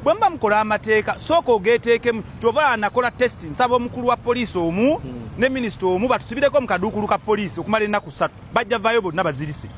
bwe muba mukola amateeka sooka ogeeteekemu kyova anakola test nsaba omukulu wa poliisi omu hmm. ne minisita omu batusibireko mu kaduukulu ka poliisi okumala ennaku ssatu bajja vaayo bonna bazirise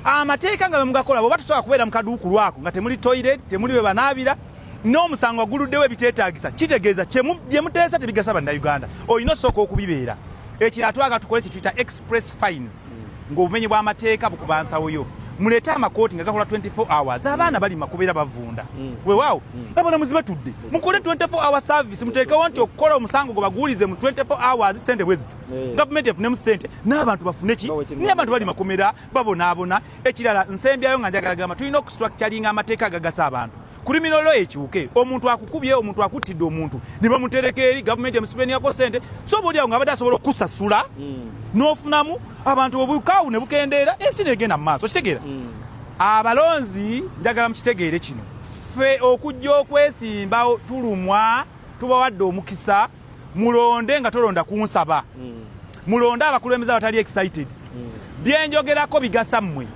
amateeka nga bemugakola bwoba tusobola kubeera mu kaduukulu ako nga temuli toilet temuli we banaabira n'omusango aguluddewo ebiteetaagisa kitegeeza bye muteesa tebigasa bannayuganda olina osooka okubibeera ekirala twaga tukole kyetuyita express fines ng'obumenyi bw'amateeka bukuba nsawo yo muleete amakooti nga gakola 24 hours abaana bali makubeera bavunda mm. wewaawo mm. abalamuzi batudde mm. mukole 24 hour service muteekewo nti okukola omusango gwe baguwulize mu 24 hours sente bwe ziti eh. gavumenti efunemu sente n'abantu bafune ki naye abantu bali makomera babonaabona ekirala nsembyayo nga njagala gamba tulina okustructuringa amateeka agagasa abantu kulimiro lo ekyuke omuntu akukubye omuntu akuttidde omuntu ne bamutereka eri gavumenti emusibeniyako sente so oba olyawo nga abadde asobola okukusasula mm. n'ofunamu abantu obukaawu ne bukendeera ensi negenda mu maaso kitegeera mm. abalonzi njagala mukitegeere kino ffe okujja okwesimbawo tulumwa tubawadde omukisa mulonde nga tolonda kunsaba mm. mulonde abakulembeze abatali excited mm. byenjogerako bigasa mmwe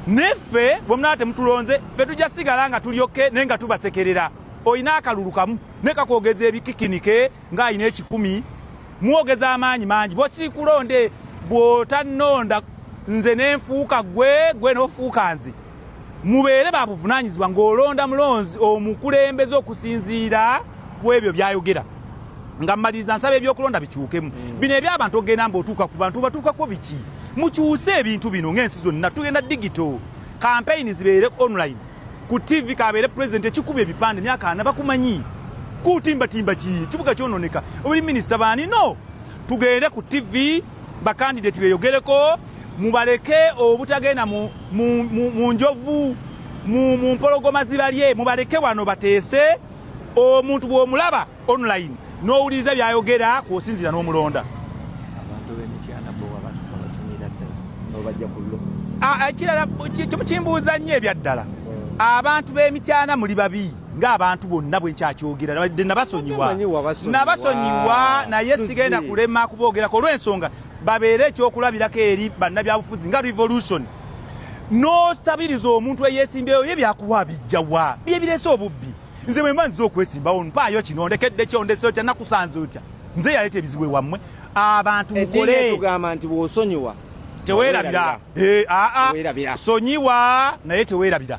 neffe bwe munaba temutulonze fe tujja sigala nga tulyokke naye nga tubasekerera olina akalulu kamu ne kakwogeza ebikikinike ng'alina ekikumi mwogeza amaanyi mangi bwekirikulonde bw'otannonda nze nenfuuka gwe gwe nofuuka nze mubeere babuvunanyizibwa ng'olonda mulonzi omukulembeze okusinziira ku ebyo byayogera nga mmaliriza nsaba ebyokulonda bikyukemu mm. bino ebyabantu okugenda mba otuuka ku bantu batuukako biki mukyuse ebintu bino ng'ensi zonna tugenda digito kampeyini zibeere online ku tv kabeere president ekikuba ebipande myaka ana bakumanyi kutimbatimba ki kibuga kyononeka obuli minisita baani no tugende ku tv bakandideti beyogereko mubaleke obutagenda mu njovu mu mpologoma zibalye mubaleke wano bateese omuntu bw'omulaba online n'owuliriza byayogera kwosinzira n'omulonda ekirala kimbuuza nnyo ebyaddala abantu b'emityana muli babi ng'abantu bonna bwe nkyakyogera nabadde nabasonyiwa nabasonyiwa naye sigenda kulema kuboogerako olw'ensonga babeere ekyokulabirako eri bannabyabufuzi nga revolution n'osabiriza omuntu eyeesimbyeyo ye byakuwa bijjawa bye bireese obubbi nze bwe mba nziza okwesimbawo mpaayo kino ndekedde kyo ndese otya nakusanze otya nze yaleeta ebizibu ewammwe abantu mukole tugamba nti bw'osonyiwa teweerabira eh, sonyiwa naye teweerabira